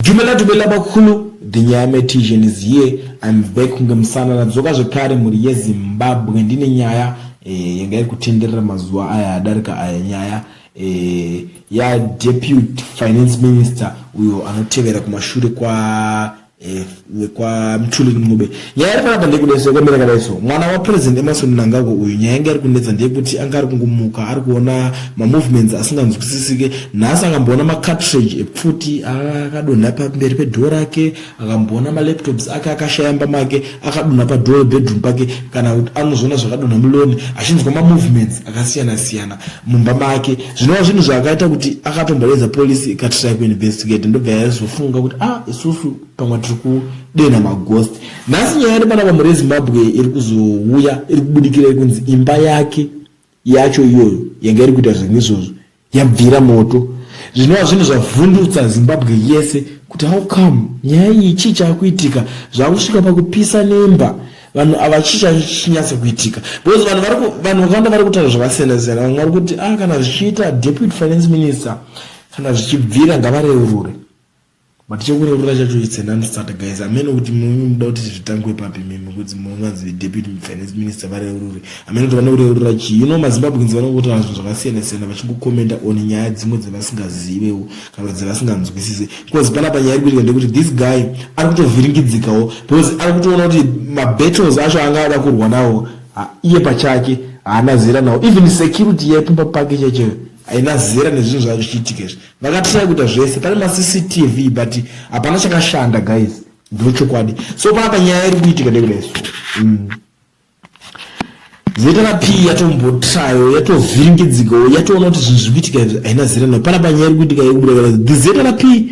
Dumela dumela bakulu the nyame tision is here I'm back kunge musana nadzoka zvekare mhuri yezimbabwe ndine nyaya eh, yanga iri kutenderera mazuva aya adarika aya nyaya eh, yadeputy finance minister uyo anotevera kumashure kwa eh, kwa mthuli ncube nyaya iri panapa ndeyekuda so yakamira kadai so mwana wapresident emarson mnangagwa uyu nyaya yanga iri kunetsa ndeyekuti anga ari kungomuka ari kuona mamovements asinganzwisisike nhasi akamboona macartridge epfuti akadonha pamberi pedhoo rake akamboona malaptops ake akashayamba make akadonha padhoo rebedroom pake kana kuti anozoona zvakadonha muloni achinzwa mamovements akasiyana siyana mumba make zvinova zvinhu zvaakaita kuti akatomboedza polisi ikatrai kuinvestigate ndobva yaizofunga kuti ah isusu pamwe tiri kudenha maghost nhasi nyaya iri pana vamhuri yezimbabwe iri kuzouya iri kubudikira yekunzi imba yake yacho iyoyo yanga iri kuita zvinhu izvozvo yabvira moto zvinova zvinhu zvavhundutsa zimbabwe yese kuti how come nyaya iyi chii chaakuitika zvaakusvika pakupisa nemba vanhu ava chii chachinyatsa kuitika because vanhu vari vanhu vakawanda vari kutaura zvakasiyana siyana vamwe vari kuti ah kana zvichiita deputy finance minister kana zvichibvira ngavareurure But chekurorora chacho it's an unstart guys amene kuti mimi muda kuti zvitangwe papi mimi kuti munonzi deputy finance minister vareurure amene kuti vane kureurura chii you know mazimbabweans vanongoti hazvo zvakasiyana siyana vachingokomenda on nyaya dzimwe dzevasingazivewo kana kuti dzevasinganzwisise because pana panyaya iri kuitika ndekuti this guy ari kutovhiringidzikawo because ari kutoona kuti mabattles acho anga ada kurwa nawo iye pachake haana zera nawo even security yaipumba pake chaicheyo haina zera nezvinhu zvaa zvichiitika izvi vakatrai kuita zvese pane macctv but hapana chakashanda guys ndochokwadi so panapa nyaya iri kuitika ndekudai so mm. zeta rapi yatombotrayo yatovhiringidzikawo yatoona kuti zvinhu zviri kuitika izvi haina zera no panapa nyaya iri kuitika yekubuda kana dzeta rapi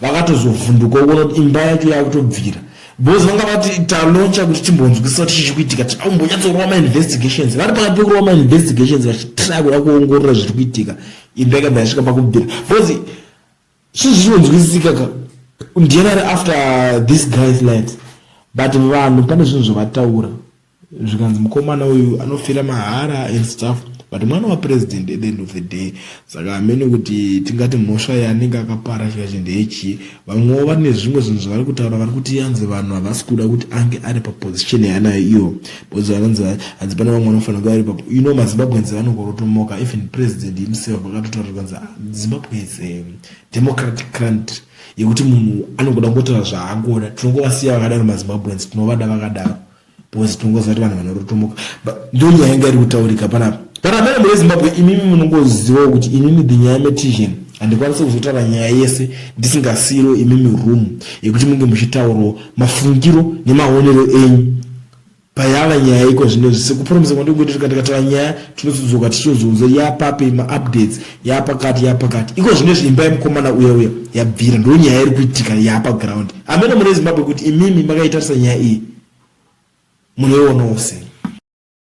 vakatozovhunduka ukuona kuti imba yacho yakutobvira because vanga vati taloncha kuti timbonzwisisa kuti chichi kuitika ti aumbonyatsorova mainvestigations vari pakati pekurova mainvestigations vachitry kuda kuongorora zviri kuitika imba yakabva yasvika pakubvira because chii zvichonzwisisika ka ndiyana ari after this guy's lives but vanhu pane zvinhu zvavataura zvikanzi mukomana uyu anofira mahara and stuff but mwana wapresident at the end of the day saka amene kuti tingati mhosva yaanenge akapara chikachi ndeyechii vamwewo vane zvimwe zvinhu zvavari kutaura vari kuti yanzi vanhu havasi kuda kuti ange ari paposition yaanayo iyo because vanonzi hanzi pane vamwe vanofanira kuva ari papo you know mazimbabwenzi vanokorotomoka even president himself vakatotaura zvikanzi ah, zimbabwe is a democratic country yekuti munhu anongoda kungotaura zvaangoda tinongovasiya vakadaro mazimbabwenzi tinovada vakadaro because tinongoziva kuti vanhu vanorotomoka but ndo nyaya inga iri kutaurika panapa but amene mune zimbabwe imimi munongozivawo kuti inini the nyaya metician handikwanise kuzotaura nyaya yese ndisingasiiro imimi room yekuti munge muchitaurawo mafungiro nemaonero enyu payava nyaya iko zvino zvise kupromisa kwandikuita tikandikataura nyaya tinozodzoka tichizozoudza yapape maupdates yapakati yapakati iko zvino zviimba yemukomana uya uya yabvira ndo nyaya iri kuitika yapa ground amene mune zimbabwe kuti imimi makaitarisa nyaya iyi munoionawo sei